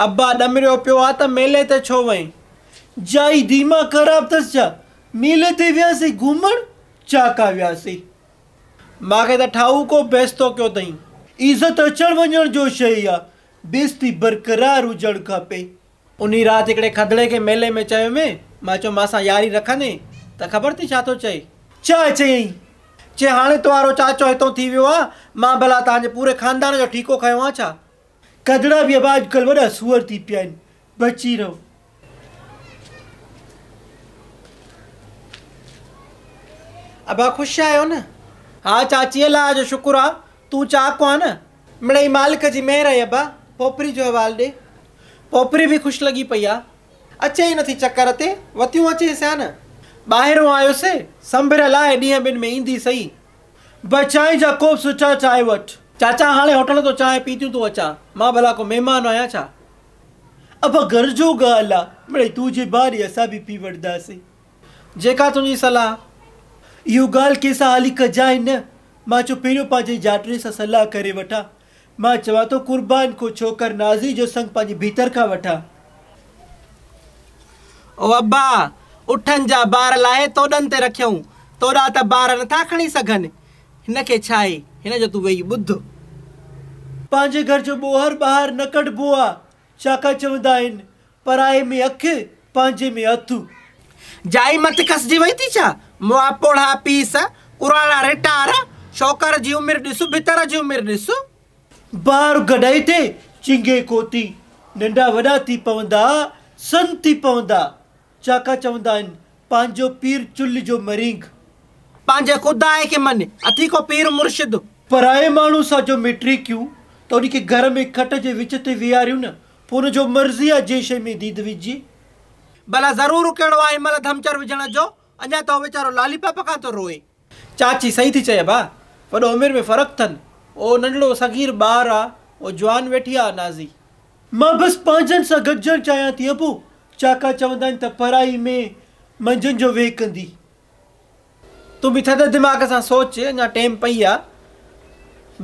ابا ڏمريو پيو آ ته ميلي تي ڇو وئين؟ جا ئي ديماغ خراب ٿس ڇا؟ ميلي تي وياسين گهمڻ چاڪا وياسين. مان کي ته ٺاهوڪو بيستو ڪيو تئين. عزت اچڻ وڃڻ جو شيء آ. بيستي برقرار هجڻ کپي. انهي رات هڪڙي کدڙي کي ميلي ۾ چيو مين. مان چيو مان سان ياري رکندين ته خبر ٿي ڇا ٿو چئي؟ ڇا چيائين؟ چي هاڻي توهان رو چاچو هتون ٿي ويو آ. مان ڀلا توهان جي پوري خاندان جو ٺيڪو کنيو آ ڇا؟ ڪڌڙا به ابا اڄڪلھ وڏا سوئر ٿي پيا آھن بچي رھو. ابا خوش آھيو نه. ھا چاچي الله جو شڪر آ تون چاڪ آ نه. مڙئي مالڪ جي مھر آھي ابا پوپري جو حوال ڏي پوپري به خوش لڳي پئي آ. اچي ئي نٿي چڪر تي وتيون اچيس ھا نه. ٻاھرون آيو سي سنڀر لاھي ڏينھن ٻن ۾ ايندي سھي به چانهه جا ڪوپ سچا چائي وٺ. چاچا هاڻي هوٽل تون چانهه پيتيون تون اچان مان ڀلا ڪو مهمان آهيان ڇا. ابا گهر جو ڳالهه آ مڙئي تون جي ڀاري اسان به پي وٺداسين. جيڪا تنهنجي صلاح. اهو ڳالهه ڪنهن سان هالي ڪجانء نه. مان چيو پهريون پنهنجي جاٽڙي سان صلاح ڪري وٺان. مان چوان ٿو قربان ڪو ڇوڪر نازي جو سڱ پنهنجي ڀيتر کان وٺان. او ابا! اٺن جا بار لاهي توڏن تي رکيئون، توڏا ته بار نٿا کڻي سگهن، هن کي ڇا آهي، هن جو تون ويهي ٻڌ. پنهنجي گهر جو ٻوهر ٻاهر نه ڪڍبو آ، ڇاڪاڻ چوندا آهن، پرائي ۾ اک، پنهنجي ۾ هٿ. جائي مٿ کسجي وئي ٿي ڇا؟ مئا پوڙها پيس، پراڻا رٽار، شوڪر جي عمر ڏس، ڀتر جي عمر ڏس. بار گڏائي ٿي چنگي ڪوتي، ننڍا وڏا ٿي پوندا، سن ٿي پوندا. چاڪا چوندا آهن، پنهنجو پير چلهه جو مرينگ. پنهنجي خداء کي مڃ، اٿي ڪو پير مرشد. پرائي ماڻهو سان جو ميٽري ڪيون ته ان کي گهر ۾ کٽ جي وچ تي ويهاريون نه. پوء ان جو مرضي آ جنهن شيء ۾ ديد وجهجي. ڀلا ضرورو ڪهڙو آ هن مهل ڌمچر وجهڻ جو، اڃا ته هو ويچارو لالي پاپ کان ٿو روئي. چاچي صحيح ٿي چئي ابا، وڏو عمر ۾ فرق ٿن، او ننڍڙو صغير ٻار آ، او جوان ويٺي آ نازي. مان بس پنهنجن سان گڏجڻ چاهيان ٿي ابو، چاڪا چوندا آهن ته پرائي مئي منجهن جو ويهه ڪندي. تون به ٿڌ دماغ سان سوچ، اڃا ٽيم پئي آ.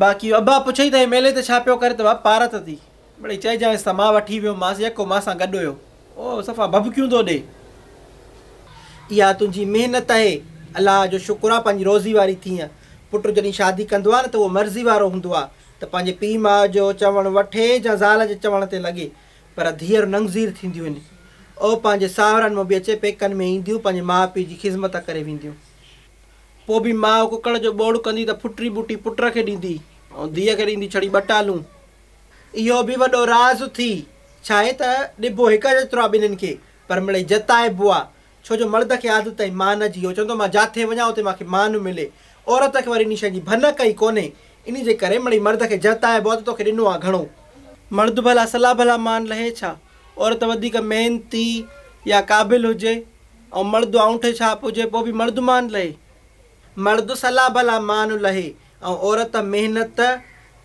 باقي ابا پڇئي ته هي ميلي تي ڇا پيو ڪري ته وا پارت ٿي. مڙئي چئجانس ته مان وٺي ويو مانس يڪو مان سان گڏ هيو. او صفا ڀڀڪيون ٿو ڏي. اها تنهنجي محنت اهي. الله جو شڪر آ پنهنجي روزي واري ٿينء. پٽ جڏهن شادي ڪندو آ نه ته اهو مرضي وارو هوندو آ ته پنهنجي پيء ماء جو چوڻ وٺي جا زال جي چوڻ تي لڳي. پر ڌيئر ننگذير ٿينديون هن. او پنهنجي ساهرن مان به اچي پيڪن ۾ اينديون پنهنجي ماء پيء جي خذمت ڪري وينديون. پوء به ماء ڪڪڙ جو ٻوڙ ڪندي ته ڦٽري ٻوٽي پٽ کي ڏيندي ۽ ڌيء کي ڏيندي ڇڙي ٻه ٽالون. اهو به وڏو راز ٿي. ڇاهي ته ڏبو هڪ جيترو آ ٻنهين کي پر مڙئي جتائبو آ. ڇو جو مرد کي عادت آهي مان جي، هو چوندو مان جاٿي وڃان اتي مان کي مان ملي، عورت کي وري انهي شيء جي ڀنڪ ئي ڪونهي، انهي جي ڪري مڙئي مرد کي جهتائبو آهي ته توکي ڏنو آهي گهڻو. مرد ڀلا سلا ڀلا مان لهي ڇا، عورت وڌيڪ محنتي يا قابل هجي ۽ مرد آنوٺي ڇاپ هجي پوء به مرد مان لهي؟ مرد سلا ڀلا مان لهي ۽ عورت محنت،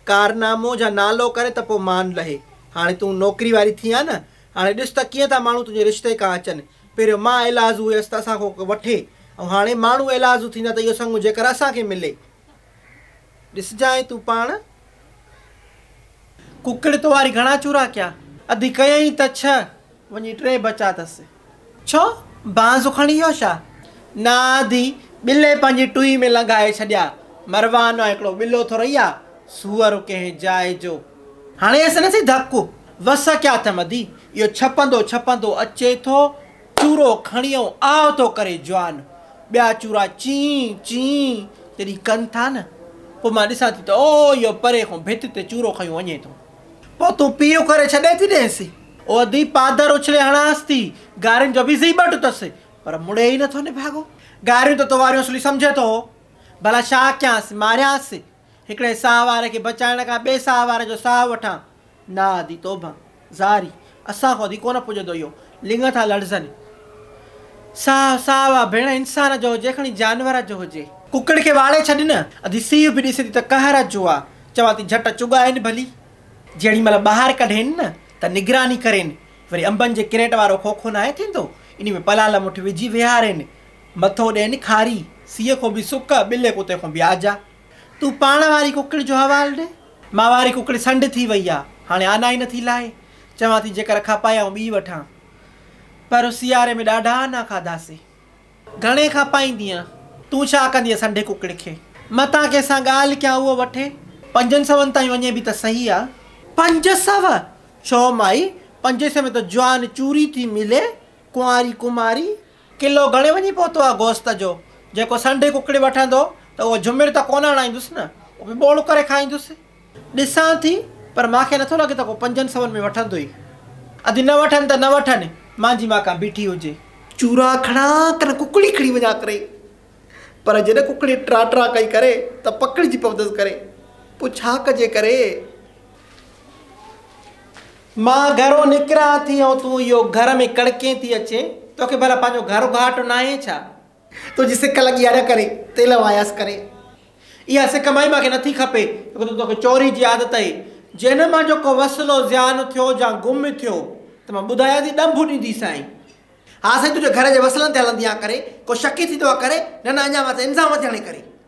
ڪارنامو جا نالو ڪري ته پوء مان لهي. هاڻي تون نوڪري واري ٿي آهي نه، هاڻي ڏس ته ڪيئن ٿا ماڻهو تنهنجي رشتي ڪان اچن. پهريون مان ايلازو هيس ته اسان کان ڪو وٺي ۽ هاڻي ماڻهو ايلازو ٿيندا ته اهو سڱو جيڪر اسان کي ملي. ڏسجانء تون پاڻ. ڪڪڙ توهاري گهڻا چورا ڪيا. اڌ ڪيائين ته ڇهه، وڃي ٽي بچا اٿس. ڇو بانس کڻي ويو ڇا؟ نا ادي ٻلي پنهنجي ٽوئي ۾ لنگهائي ڇڏيا. مروان مان هڪڙو ٻلو ٿورئي آ، سوئر ڪنهن جاء جو. هڻي هيس نه سهي ڌڪ. وس ڪيا اٿم ادي، اهو ڇپندو ڇپندو اچي ٿو، چورو کڻي ائون آء ٿو ڪري جوان. ٻيا چورا چين چين جڏهن ڪن ٿا نه، پوء مان ڏسان ٿي ته او اهو پري کان ڀت تي چورو کنيو وڃي ٿو. پوء تون پيء ڪري ڇڏي ٿي ڏينس. اودي پادر اڇلي هڻانس ٿي. گارين جو به زي ٻٽ اٿس. پر مڙي ئي نٿو نڀاڳو. گاريون ته تو واريون سولي سمجهين ٿو. ڀلا ڇا ڪيانس؟ ماريانس؟ هڪڙي ساهه واري کي بچائڻ کان ٻئي ساهه واري جو ساهه وٺان؟ نه ادي توبه! زاري، اسان کان ٿي ڪونه پڄندو اهو. لڱ ٿا لڙزن. ساهه ساهه واه ڀيڻ انسان جو هجي کڻي جانور جو هجي. ڪڪڙ کي واڙي ڇڏ نه. ادي سيء به ڏسي ٿي ته قهر جو آ. چوان ٿي جهٽ چڳائين ڀلي. جيڏي مهل ٻاهر ڪڍين نه ته نگراني ڪرين. وري انبن جي ڪريٽ وارو کوکو ناهي ٿيندو انهي ۾ پلال مٺ وجهي ويهارين. مٿو ڏين کاري. سيء کون به سڪ، ٻلي ڪتي کون به آجا. تون پاڻ واري ڪڪڙ جو حوال ڏي. مان واري ڪڪڙ سنڊ ٿي وئي آ، هاڻي آنا ئي نه ٿي لاهي، چوان ٿي جيڪر اکا پائي آئون ٻي وٺان، پر سياري ۾ ڏاڍا آنا کاڌاسي. گهڻي کان پائيندينء، تون ڇا ڪندينء سنڊي ڪڪڙ کي؟ متان ڪنهن سان ڳالهه ڪيان اهو وٺي. پنجن سون تائين وڃي به ته سهي آ. پنج سو؟ ڇو مائي، پنجين سوين ۾ ته جوان چوري ٿي ملي، ڪنواري ڪماري. ڪلو گهڻي وڃي پهتو آ گوست جو، جيڪو سنڍي ڪڪڙي وٺندو ته اهو جهمر ته ڪونه اڻائيندس نه، اهو به ٻوڙ ڪري کائيندس. ڏسان ٿي پر مان کي نٿو لڳي ته ڪو پنجن سون ۾ وٺندو ئي. ادي نه وٺن ته نه وٺن، مانجي مان ڪا بيٺي هجي. چورا کڻان ڪن ڪڪڙي کڻي وڃان ڪري، پر جڏهن ڪڪڙي ٽرا ٽرا ڪئي ڪري ته پڪڙجي پوندس ڪري، پوء ڇا ڪجي ڪري. مان گهرون نڪران ٿي ۽ تون اهو گهر ۾ ڪڙڪين ٿي اچين، توکي ڀلا پنهنجو گهر گهاٽ ناهي ڇا؟ تنهنجي سڪ لڳي آهي نه ڪري تيل ماياس ڪري. اها سڪ مائي مانکي نٿي کپي ڇو ته توکي چوري جي عادت اهي. جي هن مان جو ڪو وسلو زيان ٿيو يا گم ٿيو ته مان ٻڌايان ٿي ڏنڀ ڏيندي سائين. ها سائين تنهنجي گهر جي وسلن تي هلندي آهيان ڪري ڪو شڪي ٿيندو آهي ڪري نه نه اڃا مٿي الزام مٿي هڻي ڪري.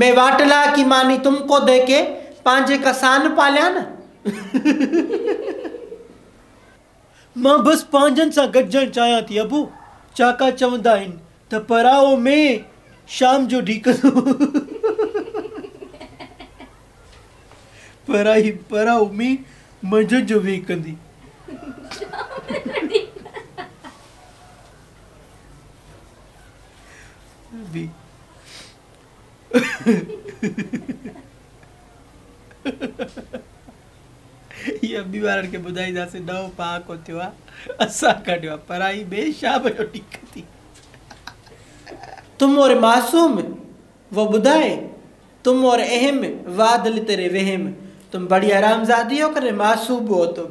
مين واٽ لا ڪي ماني تم ڪو دي ڪي پانجي ڪا سان پاليان نه. مان بس پانجن سان گڏجڻ چاهيان ٿي ابو. چاڪا چوندا آهن ته پراهو مين شام جو ڍيڪندو. پراهي پراهو مين منجهند جو ويهڪندي. ٻيمارن کي ٻڌائينداسين ڏهو پهاڪو ٿيو آ اسان ڪڍيو آ پرائي ٻئي شام جو ٽيڪ ٿي تم اور معصوم وہ ٻڌائي تم اور اهم واھ دل تيري وهم تم بڙي حرام زادي هو ڪني معصوم هو تم.